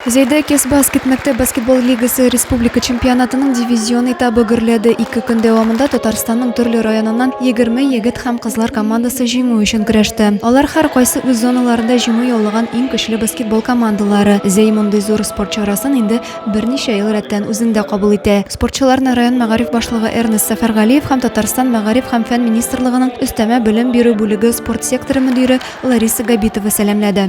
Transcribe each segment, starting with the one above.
Зәйдә Кесбаскет мәктәп баскетбол лигасы республика чемпионатының дивизион этабы гөрләде. Ике көн дәвамында Татарстанның төрле районыннан 20 егет һәм кызлар командасы җиңү өчен көрәште. Алар һәркайсы үз зоналарында җиңү яулаган иң көчле баскетбол командалары. Зәй мондый зур спорт чарасын инде берничә ел рәттән үзендә кабул итә. Спортчыларны район мәгариф башлыгы Эрнест Сәфәргалиев һәм Татарстан Мәгариф һәм фән министрлыгының өстәмә белем бирү бүлеге спорт секторы мөдире Лариса Габитова сәламләде.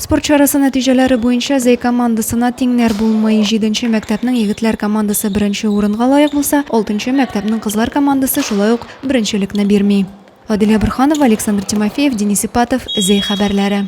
Спорт чарасы нәтиҗәләре буенча Зәй командасына тиңнәр булмый. Җиденче мәктәпнең егетләр командасы беренче урынга лаек булса, алтынчы мәктәпнең кызлар командасы шулай ук беренчелекне бирми. Адилә Борһанова, Александр Тимофеев, Денис Ипатов, Зәй хәбәрләре.